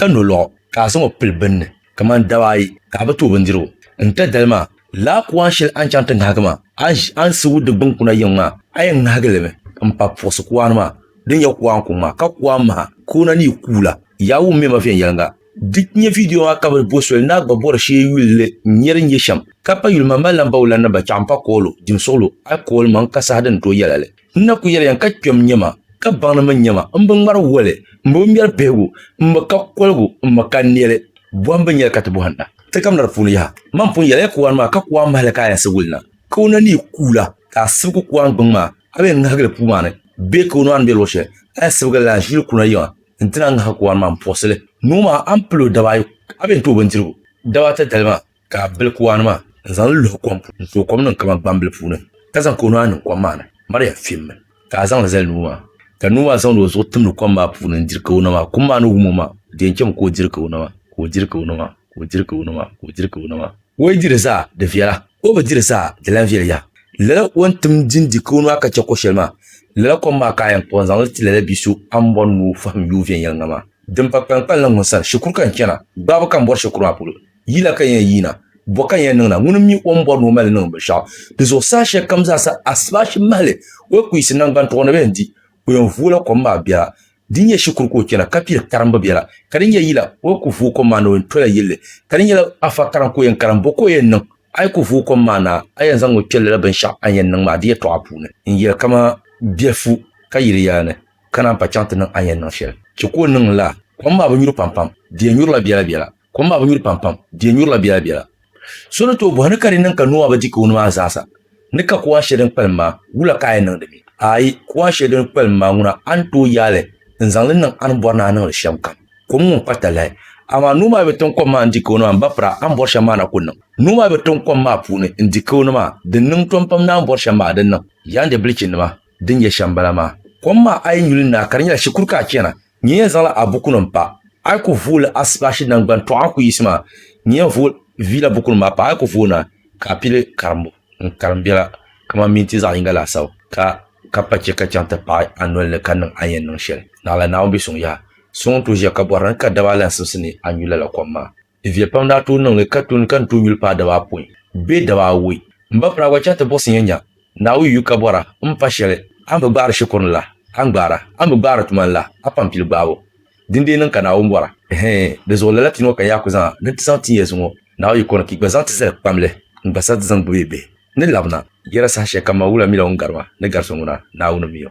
ka nolɔɣu ka a zaŋ o pili bini ni kamani daba ayi ka a bi ti o bindirigu. N tɛ dali maa, laa kuan shɛli a ni chaŋ ti ŋahigi maa, a ni ʒi a ni sigu di gbiŋkuna yiŋ maa, a yɛn ŋahigi li mi m-pa puɣisi kuan maa din nyɛ kuan kuŋ maa, ka kuan maha ka o na ni yi kuula. Yaa wum mɛma viɛnyɛliŋga. Di nyɛ vidiyo maa ka bɛ bo soli ni a gba bɔri shee yulili n-nyɛ din nyɛ shɛm, ka pa yuli maŋmalinambawulannima chaɣimpa koolu, dimsuɣulo, alikoolimaŋ ka saha din tooi yɛla li. N na ku yɛliya ka kpɛm nyɛ ma, ka baŋ ni mi nyɛ ma. M bi ŋmari woli, m bi ŋmɛri bihigu, m mi ka koligu, m mi ka nɛli. Bɔhim bɛ nyɛli ka ti bɔhim na? Ti gamina di puuni yaha. Mani pun yɛliya kuwani maa ka kuwani mahili ka a yɛn siɣi wuli na, ka o na neei kuula ka a sibigi kuwani gbiŋ maa, a bi yɛn ŋahigi li puu maa ni bee ka o naan be luɣ shɛli, a yɛn sibigi li la ʒiili kuna yiŋa nti na ŋahigi kuwani maa m-puɣisi li. Noo maa, a ni pili o daba ayi, a bi yɛn ti o bindirigu daba ata dali maa. ka a bili kuwani maa n-zaŋ li luhi kom puuni n-tooi kom niŋ kaman gbambili puuni, ka zaŋ ka o nuhi ayi niŋ kom maa ni. Maria fimmi ka a zaŋ li zali nuu maa, ka nuu maa zaŋdi o zuɣu timdi kom maa puuni n-diri ka o nɔ maa. Kum maa ni wum o maa, o di yɛn chami ka o diri ka o nɔ maa, ka o diri ka o nɔ maa, ka o diri ka o nɔ maa, ka o diri ka o nɔ maa. O yi diri zaa, di viɛla, ka o bi diri zaa, di lan viɛli yaha. Lala o ni tim din di ka o nɔhi ka chɛ ko shɛli maa, lala kom maa ka a yɛn kpuɣi n-zaŋ li ti lala bi so Ambon ni o fahim yuun viɛnyɛliŋga maa. Din pa kpaŋkpalli ŋun sani, shikuru ka n chana, gbaabu ka m bɔri shikuru maa polo. Yila ka n yɛn yiina? Bɔ ka n yɛn niŋ na? Ŋuni m-mi o ni bɔri ni o mali niŋ binshɛɣu di zuɣu saha shɛli kam zaa sa, Asibashi mahili o yi ku yiɣisi naŋgbantuɣu ni bɛn di, o yɛn vooi la kom maa biɛla. Di nyɛ shikuru ka o chana, ka pili karimbu biɛla. Ka di nyɛ yila o yi ku vooi kom maa na, o yɛn tola yilli. Ka di nyɛla afa karim ka o yɛn karim, bɔ ka o yɛn niŋ? A yi ku vooi kom maa na, a yɛn zaŋmi kpɛri lala binshɛɣu a ni yɛn niŋ maa di yɛtɔɣa puuni n-yɛli kaman biɛfu ka yili yaa ni ka naan pa chaŋ ti niŋ a ni yɛn niŋ shɛli. Chɛ ka o niŋ lala. Kom maa bi nyuri pampam, di yɛn nyurila biɛlabiɛla. Kom maa bi nyuri pampam, di yɛn nyurila biɛla biɛla. So ni tooi bɔhi ni ka di niŋ ka Noa bi di kawuni maa zaasa, ni ka kuɣa shɛli din kpalim maa, wula ka a yɛn niŋdi mi? Aai, kuɣa shɛli din kpalim maa ŋuna, a ni tooi yaai li n-zaŋ li niŋ a ni bɔri ni a niŋ li shɛm kam. Kom ŋun kpa talahi. Amaa Noa maa bi tiŋ kom maa n-di kawuni maa m-ba pira, a ni bɔri shɛm maa na ku niŋ. Noa maa bi tiŋ kom maa puuni n-di kawuni maa, din niŋ tom pam ni a ni bɔri shɛm maa di niŋ. Yaanjɛ bilichinima, din yɛ shɛm m-bala maa. Kom maa a yi nyu li n-naai ka di nyɛla shikuru ka a chana, Nyin yɛn zaŋla a bukunim pa. A yi ku vooli a Sibashi Naŋgban Tɔɣa Ku Yiɣisi maa, nyin yɛn vooi vi la bukunim maa pa. A yi ku vooi na, ka a pili karimbu n-karim biɛla kaman minti zaɣ yiŋga laasabu, ka ka pa chɛ ka chaŋ ti paɣi a noli ni ka niŋ a ni yɛn niŋ shɛli. Naɣila Naawuni bi suŋ yaha. Suŋ n-tooi ʒiya ka bɔri ni ka daba alansimsi ni a nyu lala kom maa. Viɛ pam daa tooi niŋ li ka tuni ka ni tooi yuli paai daba apɔin bee daba awɔi. M ba Piraagua chɛ ti buɣisi ya nya Naawuni yuyu ka bɔra m pa shɛli a ni bi gbaari shikuru ni la, a ni gbaara. A ni bi gbaari tuma ni la, a pam pili gbaabu. Din deei niŋ ka Naawuni bɔra. Hɛɛn, di zuɣu lala pini ŋɔ ka n yaa ku zaŋ a ni ti zaŋ tin ya zuŋɔ Naawuni yiko ni ka yi gba zaŋ ti zali kpamli n-gba sa di zaŋ gbibi yi bihi ni labina yɛda saha shɛli kam ma wula mi la ŋun gari ma ni gari so ŋuna, Naawuni mi o.